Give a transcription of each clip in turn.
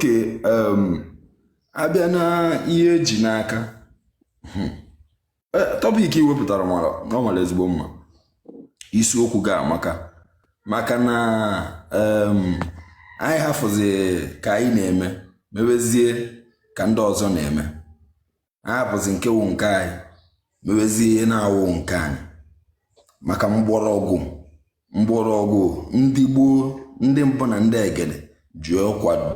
ke um, abịa na ihe eji n'aka hmm, eh, topic i wepụtara ọ mara ezigbo mma isiokwu gị amaka maka na um, anyị hafụzi ka anyị na-eme mewezie ka ndị ọzọ na-eme ahapụzi nke wụ nke anyị mewezie ihe na-awụ nke anyị maka mgbọrọgwụ mgbọrọgwụ ndị gboo ndị mbụ na ndị egede ji akwado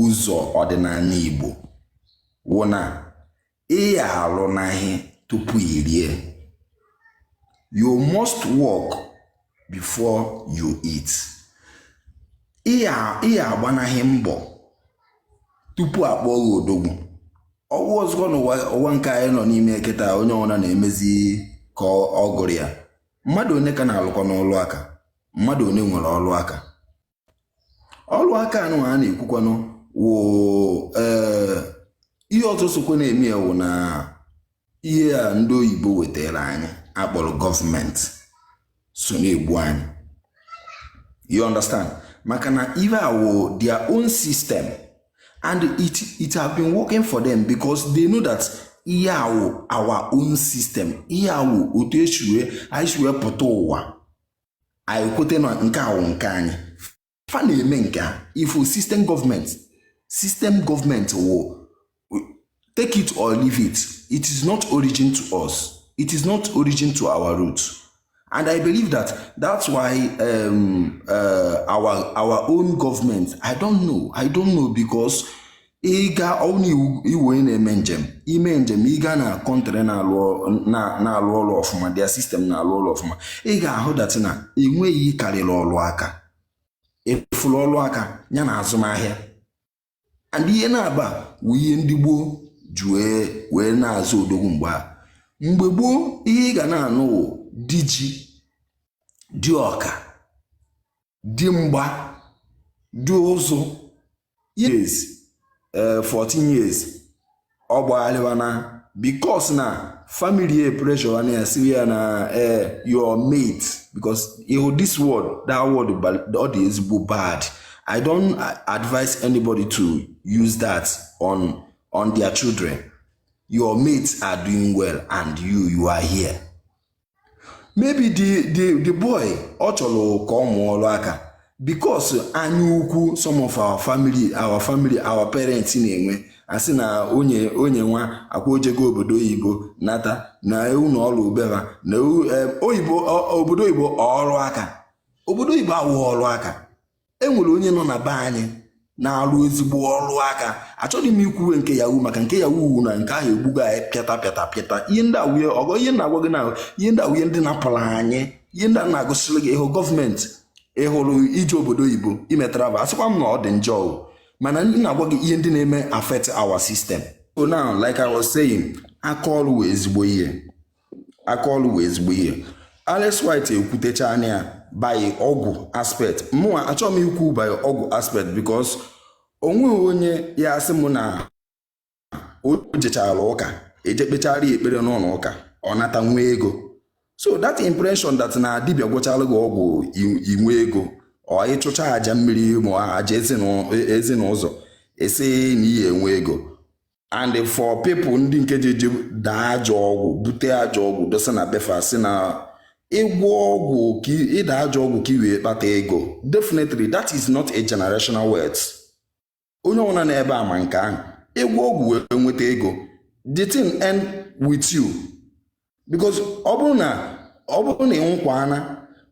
ụzọ ọdịnala Igbo wụ na ị ya-alụnaghị tupu irie you must work before you eat ị ya-agbanaghị mbọ tupu akpọọ gị odogwu ọwụ ọzọ n'ụwa nke anyị nọ n'ime kịta onye ọbụla na-emezi ka ọ gụrụ ya mmadụ one ka na-alụkwanụ ọlụ aka mmadụ one nwere ọlụ aka ọrụ aka anụ a na-ekwukwanụ wụ eh, ihe ọzọ sokwa na-eme ya wụ na ihe a ndị oyibo wetara anyị akpọrọ gọọmenti so na-egbu anyị you understand maka na ihe a wụ their own system and it it have been working for them because they know that ihe a wụ our own system ihe a wụ otu esi wee anyị si wee pụta ụwa anyị kwete na nke a wụ nke anyị fa na-eme nke a ị fụ system government system government wụ take it or leave it it is not origin to us it is not origin to our root and i believe that that's why um, uh, our our own government i don't know i don't know because ịga ọnụ ị wụ onye na-eme njem ime njem ịga na country na-alụ ọlụ ọfụma their system na-alụ ọlụ ọfụma ị ga-ahụ that na enweghị karịrị ọlụ aka ị fụla ọlụ aka ya na azụmahịa and ihe naabọ a bụ ihe ndị gboo ji wee na-aza odogwu mgbe a mgbe gboo ihe ị ga na-anụ wụ di ji di ọka di mgba di ụzụ years eh, 14 years ọ gbagharịwa na bikos na family e pressure na ya si ya na eh, your mate bikos ihu this word that word ọ dị ezigbo bad i don't advise anybody to use that on on their children your mates are doing well and you you are here maybe the the the boy ọ chọrọ ka ọ mụọ ọrụ aka because anya ukwu some of our family our family our parents na-enwe asị na onye onye nwa akwa ojego obodo oyibo nata na ewu na ọrụ ubeba na ewu eh, oyibo obodo oyibo ọrụ aka obodo oyibo awụ ọrụ aka e nwere onye nọ na be anyị na-alụ ezigbo ọrụ aka achọghị m ikwuwe nke Yahoo maka nke Yahoo wụ na nke ahụ egbugo anyị pịata pịata pịata ihe ndị a wụ ihe ọgọ ihe na-agwa gị na ihe ndị a wụ ihe ndị napụrụ anyị ihe ndị a na-agụsịrị gị ịhụ gọọmenti ịhụrụ ije obodo oyibo ime travel asịkwa m na ọ dị njọ mana ndị na-agwa gị ihe ndị na-eme affect our system so now like I was saying aka ọrụ wụ ezigbo ihe aka ọrụ wụ ezigbo ihe Alex White ekwutecha anya ya by ọgwụ aspect mụnwa achọghị m ikwu by ọgwụ aspect because onweghị onye ya-asị m na o jechara ụka eje kpechara ya ekpere n'ụlọ ụka ọ nata nwee ego so that impression that na dibịa gwọchara gị ọgwụ i nwee ego or ị chụchaa aja mmiri ma aja ezi na ụzọ e si na ihe enwe ego and for people ndị nke je eje daa ajọ ọgwụ bute ajọ ọgwụ dosa na be fa sị na ịgwọ ọgwụ ka ịda ajọ ọgwụ ka i wee kpata ego definitely that is not a generational wealth onye ọbụla nọ ebe a ma nke ahụ ị gwọọ ọgwụ wee nweta ego the thing end with you because ọ bụrụ na ọ bụrụ na ị nwụkwa ana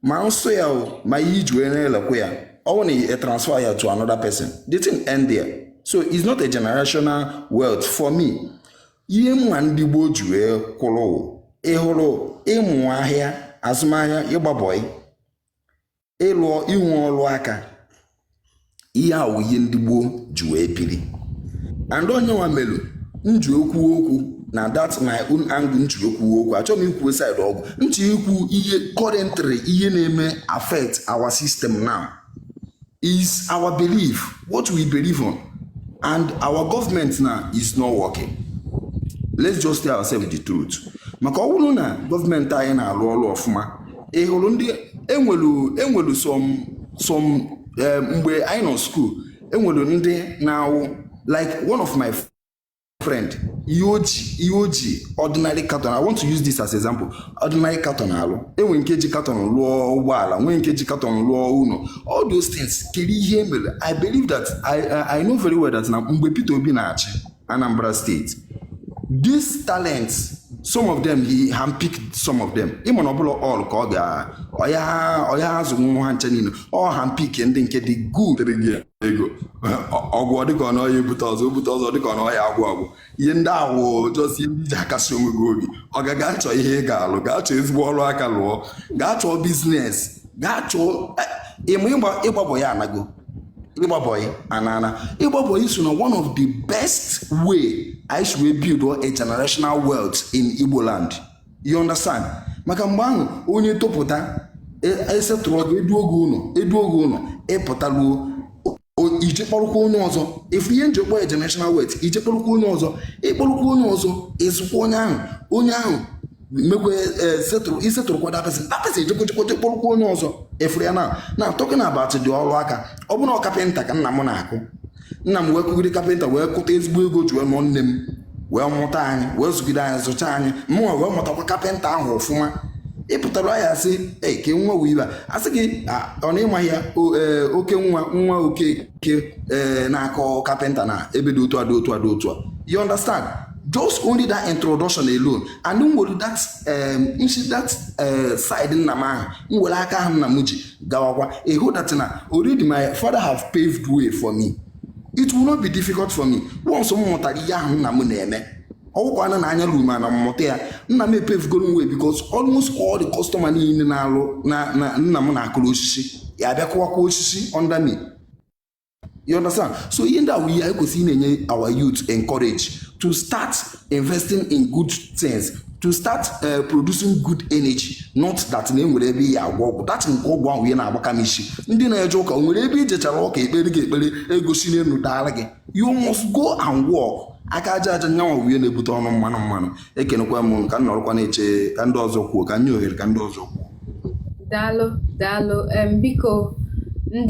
ma nsọ ya o ma ihe i ji wee na-elekwa ya ọ bụrụ na ị transfer ya to another person the thing end there so it's not a generational wealth for me ihe m ma ndị gboo ji wee kwụrụ ị hụrụ ịmụ ahịa azụmahịa ịgba bọị ịlụ inwe ọrụ aka ihe a wụ ihe ndị gboo ji wee biri and onye nwa melu nji ekwu okwu na that my own angle nji ekwu okwu achọghị m ikwu side ọgwụ nji ikwu ihe currently ihe na-eme affect our system now is our belief what we believe on and our government now is not working let's just tell ourselves the truth maka ọ bụrụ na gọọmenti anyị na-arụ ọrụ ọfụma ị hụrụ ndị enwelu enwelu some some eh, mgbe anyị nọ school enwelu ndị na-awụ like one of my friend ihe o ji ihe o ji ordinary carton i want to use this as example ordinary carton alụ enwere nke ji carton lụọ ụgbọala nwee nke ji carton lụọ ụlọ all those things kedụ ihe e mere i believe that i i know very well that na mgbe Peter Obi na-achị Anambra State these talents some of them he handpicked some of them ị ma na ọ bụrọ all ka ọ ga ọ ya-azụnwu ha ncha niile ọ handpick ndị nke dị good ego ọgwụ dịka ọ na ọ ya-ebute ọzọ ebute ọzọ dịka ọ na ọ ya-agwụ agwụ ihe ndị a wụ just ihe ndị ji akasi onwe gị obi ọga gaa chọọ ihe ị ga-alụ gaa chọọ ezigbo ọrụ aka lụọ gaa chọọ business gaa chọọ ịmụ ịgba bọị anago ịgba bọyị anana ịgba bọyị so na one of the best way anyị si wee build a generational wealth in igbo land you understand maka mgbe ahụ onye topụta e settle gị e duo gị ụnọ ị pụta lụọ i je kpọrụkwa onye ọzọ ị fụ ihe m ji kpọọ generational wealth i je kpọrụkwa onye ọzọ ị kpọrụkwa onye ọzọ ị zụkwa onye ahụ onye ahụ mekwe i settlekwa that person that person ejekwa jekwa je kpọrụkwa onye ọzọ ị fụrụ ya now talking about the ọrụ aka ọ bụrụ na ọ kapịnta ka nna m na-akụ nna m wee kụgide kapịnta wee kụta ezigbo ego ji wee nụọ nne m wee mụta anyị wee zụgide anyị zụcha anyị mụnwa wee mụtakwa kapịnta ahụ ọfụma ị pụtara ya sị ee ke nwa onye ị bụ a sị gị ọ na ị ma ya e, oke nwa nwa okeke e, na-akụ kapịnta na ebe dị otu a dị otu a dị otu a you understand just only that introduction alone and m were that um, m si that uh, side nna m ahụ m were aka ahụ nna m ji gawakwa ị hụ that na already my father have paved way for me it will not be difficult for me once m mụtara ihe ahụ nna m na-eme ọ gwụkwana anya ruo m ana m mụta ya nna m epavegoro way because almost all the customer niile ahụ nna m na-akụrụ osisi ya-abịa kụwakwa osisi under me You understand? So ihe ndị ahụ ihe anyị kwesịrị na-enye our youth encourage to start investing in good things to start uh, producing good energy not that na e nwere ebe i je agwọ ọgwụ that nke ọgwụ ahụ ihe na-agbaka m isi ndị na-eje ụka o nwere ebe i jechara ụka e kpeere gị ekpere ego si n'elu daara gị you must go and work aka aja aja nyanwa bụ ihe na-ebute ọnụ mmanụ mmanụ ekenekwa m unu ka m nọrọkwa na-eche ka ndị ọzọ kwuo ka m nye ohere ka ndị ọzọ kwuo daalụ daalụ em biko ndị